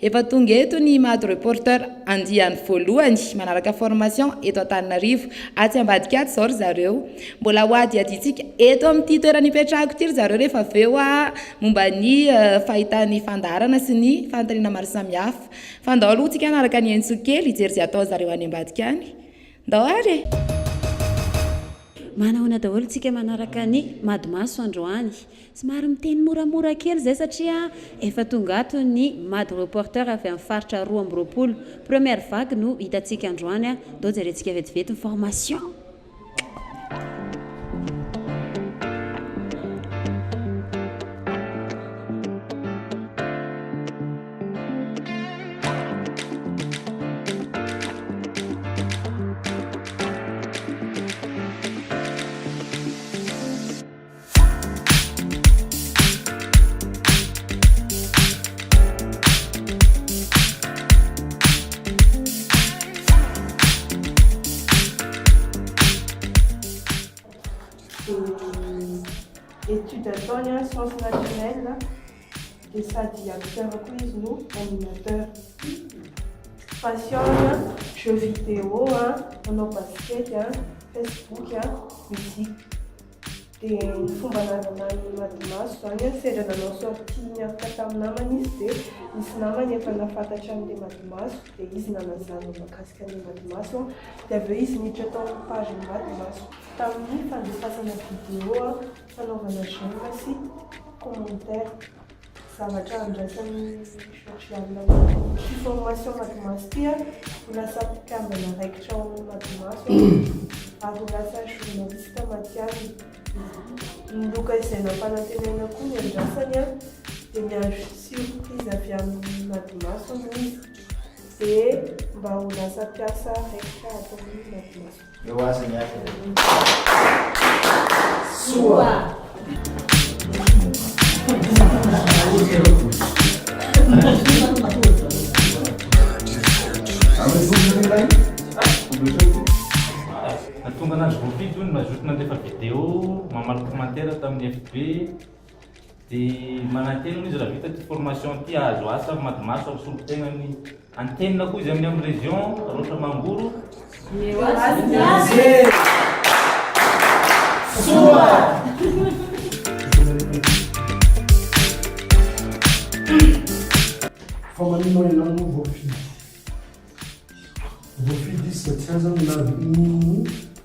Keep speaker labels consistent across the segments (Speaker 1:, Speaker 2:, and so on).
Speaker 1: Efa tonga eto ny Imado Reporter andiany voalohany manaraka formation eto Antananarivo. Atsy ambadika atsy izao ry zareo. Mbola hohadihadiantsika eto amin'ity toerana ipetrahako ity ry zareo rehefa avy eo momba ny fahitan'ny fandaharana sy ny fanontaniana maro samihafa. Fa ndao aloha tsika hanaraka ny Entso kely hijery izay ataon-dry zareo any ambadika any. Ndao ary e!
Speaker 2: Manahoana daholo tsika manaraka ny Mado Maso androany. Somary miteny moramora kely izay satria efa tonga ato ny Mado Reporter avy amin'ny faritra roa amby roapolo. Première vague no hitantsika androany a! Ndao jerentsika vetivety ny formation!
Speaker 3: Etude ataony an science naturelle dia sady acteur koa izy no animateur. Passion-ny an jeux vidéo an, manao basket an, facebook an, musique. dia ny fomba nananan'i Madimaso izany an, sendra nanao sortie niaraka tamin'ny namany izy dia nisy namany efa nahafantatra an'ilay Madimaso dia izy nanazava ny mahakasika an'ilay Madimaso an, dia avy eo izy niditra tao amin'ny page-n'i Madimaso. Tamin'ny fandefasana vidéo an, fanaovana j'aime sy commentaire. zavatra andraisan'ny Georgiana ity formation Madimaso ity a, ho lasa mpikambana raikitra ao amin'ny Madimaso ary ho lasa journaliste matihanina. Ny loka izay nampanantenaina koa ny andrasany a, dia miandry surprise avy amin'ny Madimaso hono izy, dia mba ho lasa mpiasa raikitra ato amin'ny Madimaso.
Speaker 4: Eo
Speaker 2: azy ny
Speaker 5: aty Soa! Nahatonga anazy voafidy hoy ny mazoto nandefa video mamaly commentaire tamin'ny FB. Dia manantena hono izy raha vita ity formation ity hahazo asa avy Madimaso avy solon-tenany antenina koa izy amin'ny amin'ny région Raotra Mangoro. Eo azy ny azy! Soa!
Speaker 6: Fa maninona ianao no voafidy? Voafidy izy satria aza milaza inono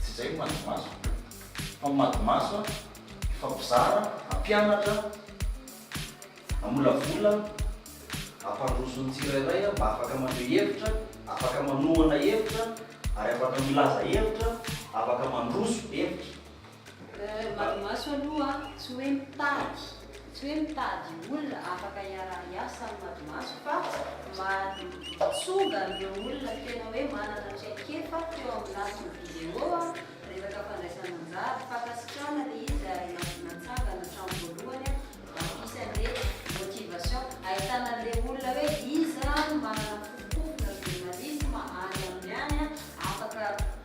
Speaker 4: Tsy izay ny madimaso fa ny madimaso a hifampizara, hampianatra, hamolavola, hampandroso ny tsirairay mba afaka maneho hevitra, afaka manohana hevitra ary afaka milaza hevitra, afaka mandroso hevitra. Ny
Speaker 2: madimaso aloha tsy hoe mitady Tsy hoe mitady olona afaka hiara-hiasa amin'ny madimaso fa mahatsonga an'ireo olona tena hoe manana traikefa teo amin'ny lafiny vidéo, resaka fandraisana anjara, fankasitrahana ilay izy ary natsangana hatramin'ny voalohany an, misy an'ilay motivation ahitana an'ilay olona hoe iza no manana fofompofona journalisme any aminy any afaka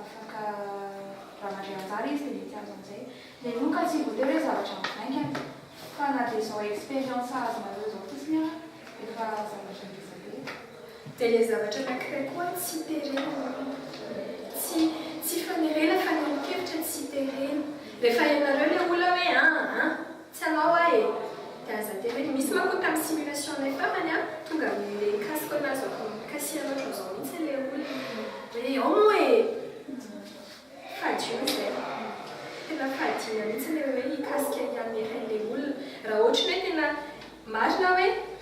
Speaker 1: afaka raha mandray anjara izy dia mety azo amin'izay meloka tsy voatery hoe zavatra mivaingana fa na dia izao expérience azonareo izao fotsiny ara efa zavatra ngeza be dia ilay zavatra anankiray koa tsy terena tsy fanerena fanehoan-kevitra tsy terena rehefa ianareo ilay olona hoe an an Tsy anao aho e! Dia aza tena hoe misy manko tamin'ny simulation nay farany an! Tonga amin'ilay cas koa nahazo ahy tao Casier loatra zao mihitsy ilay olona hoe ao moa e! Fadio izay! Tena fahadiana mihitsy ilay hoe hikasika hianera ilay olona raha ohatry ny hoe tena marina hoe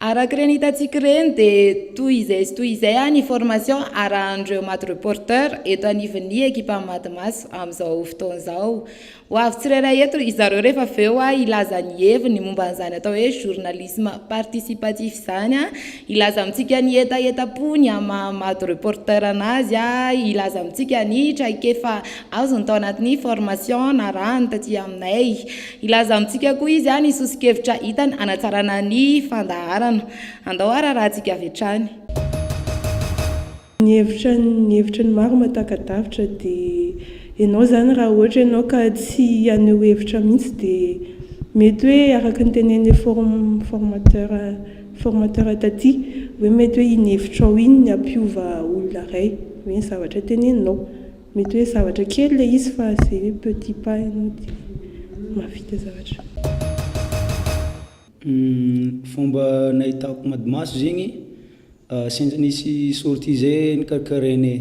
Speaker 1: Araka ireny hitantsika ireny dia toy izay sy toy izay ny formation arahan'ireo Mad Reporter eto anivon'ny ekipan'ny Mad Maso amin'izao fotoana izao. Ho avy tsirairay eto ry zareo rehefa avy eo hilaza ny heviny momba an'izany atao hoe journalisme participatif izany, hilaza amintsika ny hetahetam-pony amin'ny maha Mad Reporter an'azy, hilaza amintsika ny traikefa azony tao anatin'ny formation narahany taty aminay. Hilaza amintsika koa izy ny soso-kevitra hitany hanatsarana ny fandaharana. Andao hararahantsika avy hatrany.
Speaker 3: Ny hevitra ny hevitra ny maro mahataka-davitra dia ianao izany raha ohatra ianao ka tsy haneho hevitra mihitsy dia mety hoe araka ny tenenin'ilay formateur formateur taty hoe mety hoe iny hevitrao iny ny hampiova olona iray hoe ny zavatra teneninao Mety hoe zavatra kely ilay izy fa izay hoe petit pas ianao dia mahavita zavatra.
Speaker 7: Fomba nahitako madimaso zegny sendra nisy sortie zay nikarakarainay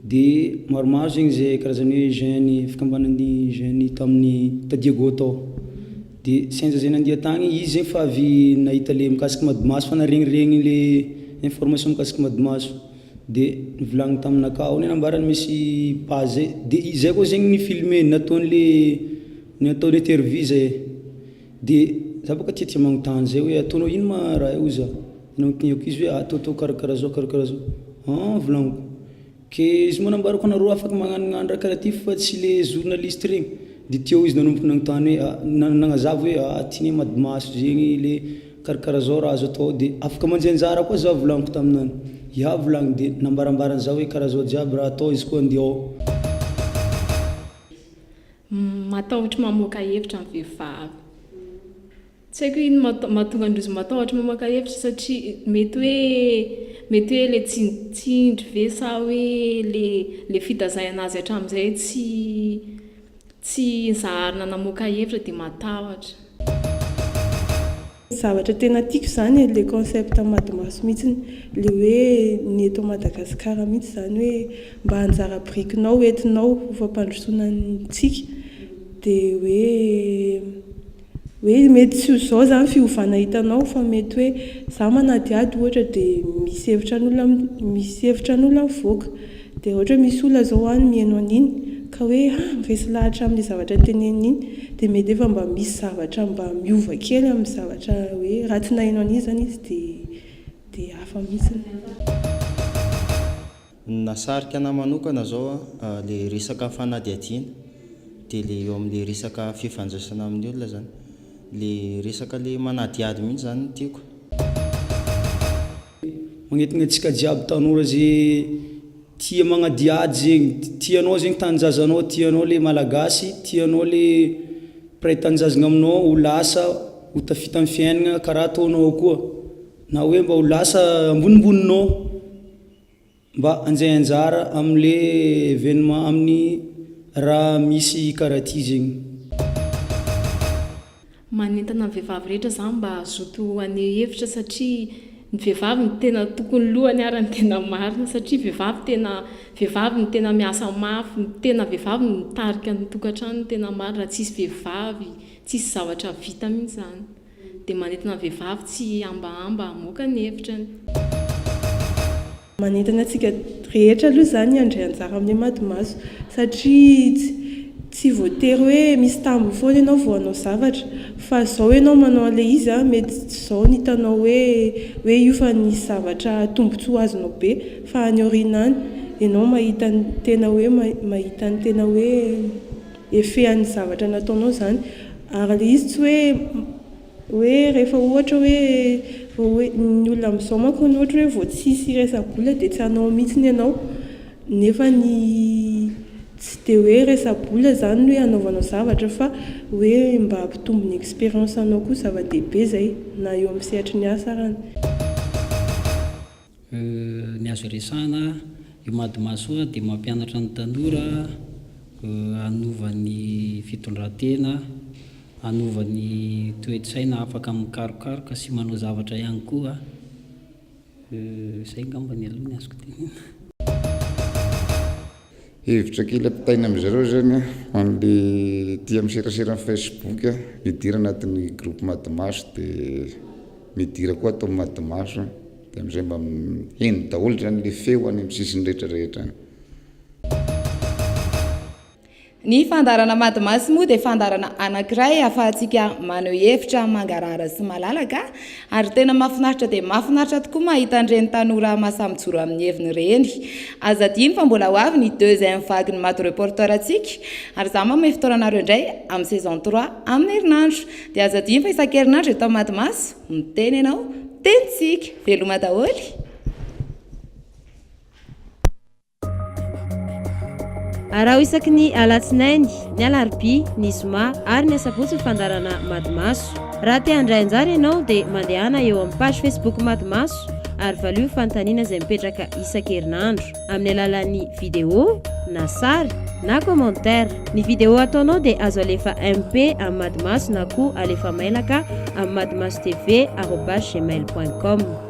Speaker 7: de maromaro zegny zay karazany hoe jeunes fikambanan'ny jeunes tamin'ny ta Diego tao de sendra zay nandia tagny izy zegny fa avy nahita le mikasiky madimaso fa naharegniregny le information mikasiky madimaso. De nivolagniny taminakahy aona nambarany misy page zay de izay koa zegny ny filme nataony le ny atao le interview zay de za bôka tiatia magnotany zay hoe ataonao ino ma raha io oza de nanontaniako izy hoe atao atao karakara zao karakara zao an volagniko ke izy moa nambarako nareo afaka magnanogna raha karaha ty fa tsy le journaliste regny de teo izy nanomboka nanontany hoe a nagnazava hoe a ty ne mady maso zegny le. Karakara zao raha azo atao de afaka manjy anjara koa za volagniko taminany ya volagny de nambarambarany za hoe karaha zao jiaby raha atao izy koa andiao.
Speaker 8: Matahotra mamoaka hevitra ny vehivavy. Tsy haiko hoe ino mahatonga an-drozy matahotra mamoaka hevitra satria mety hoe mety hoe le tsindritsindry ve sa hoe le le fitazaiana azy hatramin'izay tsy Tsy zaharina namoaka hevitra dia matahotra.
Speaker 3: Zavatra tena tiako izany e, le concept Madimaso mihitsiny, le hoe ny eto Madagasikara mihitsy izany hoe mba anjara birikinao entinao ho fampandrosoana antsika dia hoe. Hoe mety tsy ho izao izany fiovana hitanao fa mety hoe izaho manadihady ohatra dia misy hevitra an'olona misy hevitra an'olona mivoaka dia ohatra hoe misy olona izao any miheno an'iny ka hoe ha miresy lahatra amin'iny zavatra teneniny iny dia mety efa mba misy zavatra mba miova kely amin'ny zavatra hoe raha tsy naheno an'iny izany izy dia dia hafa mihintsiny.
Speaker 9: Ny nahasarika anah manokana zao a, le resaka fanadihadiana, de le eo amle resaka fifandraisana amin'ny olona zany, le resaka le manadihady mihitsy zany no tiako.
Speaker 7: Magnetagna antsika jiaby tanora ze tia magnadihady zegny, tianao zegny tanjazanao, tianao le malagasy, tianao le mpiray tanjazgna aminao ho lasa ho tafita amin'ny fiaignana karaha ataonao koa, na hoe mba ho lasa ambonimboninao. Mba anjay anjara amin le evenement aminy ra misy kara ty zegny.
Speaker 8: Manentana ny vehivavy rehetra za mba hazoto haneho hevitra satria ny vehivavy no tena tokony lohany ary ny tena marina satria vehivavy tena vehivavy no tena miasa mafy ny tena vehivavy no mitarika ny tokantrano ny tena marina raha tsisy vehivavy tsisy zavatra vita mihitsy zany. dia manintona ny vehivavy tsy hihambahamba hamoaka ny hevitrany.
Speaker 3: Manintona antsika rehetra aloha izany handray anjara amin'ny Hemadimaso satria tsy voatery hoe misy tambiny foana ianao vao hanao zavatra fa izao ianao manao an'ilay izy an, mety tsy izao ny hitanao hoe hoe io fa nisy zavatra tombontsoa azonao be fa any aoriana any ianao mahita ny tena hoe mahita ny tena hoe. efehan'ny zavatra nataonao izany ary ilay izy tsy hoe hoe rehefa ohatra hoe vao hoe ny olona amin'izao manko ny ohatra hoe vao tsisy resa-bola dia tsy hanao mihitsiny ianao nefa ny tsy dia hoe resa-bola izany no hoe hanaovanao zavatra fa hoe mba hampitombo ny expérience anao koa zava-dehibe izay na eo amin'ny sehatry ny asa ary ny Euh
Speaker 10: ny azo iresahana io madimaso io dia mampianatra ny tanora euh hanova ny fitondrantena, hanova ny toe-tsaina afaka mikarokaroka sy manao zavatra ihany koa euh izay angambany aloha ny azoko tenena.
Speaker 11: Hevitra kely ampitaina amin-dry zareo izany an, ho an'ilay tia miserasera amin'ny Facebook an, midira anatin'ny groupe madimaso dia midira koa ato amin'ny madimaso an, dia amin'izay mba heno daholo izany ilay feo any amin'ny sisiny rehetra rehetra any.
Speaker 1: Ny fandaharana madimaso moa dia fandaharana anankiray ahafahantsika maneho hevitra mangarahara sy malalaka, Ary tena mafinaritra dia mafinaritra tokoa mahita an'ireny tanora masa mijoro amin'ny heviny ireny. Aza adino fa mbola ho avy ny deuxième vague-n'ny Mado Reporter antsika, ary izaho manome fotoana anareo indray amin'ny saison trois amin'ny herinandro. Dia aza adino fa isan-kerinandro eto amin'ny Mado Maso, miteny ianao, teny tsika. Veloma daholo e!
Speaker 12: Araho isaky ny alatsinainy, ny alarobia, ny zoma ary ny asabotsy ny fandaharana Mady Maso. Raha te handray anjara ianao dia mandehana eo amin'ny page Facebook Mady Maso ary valio ny fanontaniana izay mipetraka isan-kerinandro amin'ny alalan'ny vidéo na sary na commentaire. Ny vidéo ataonao dia azo alefa MP amin'ny Mady Maso na koa alefa mailaka amin'ny madimasotv@gmail.com.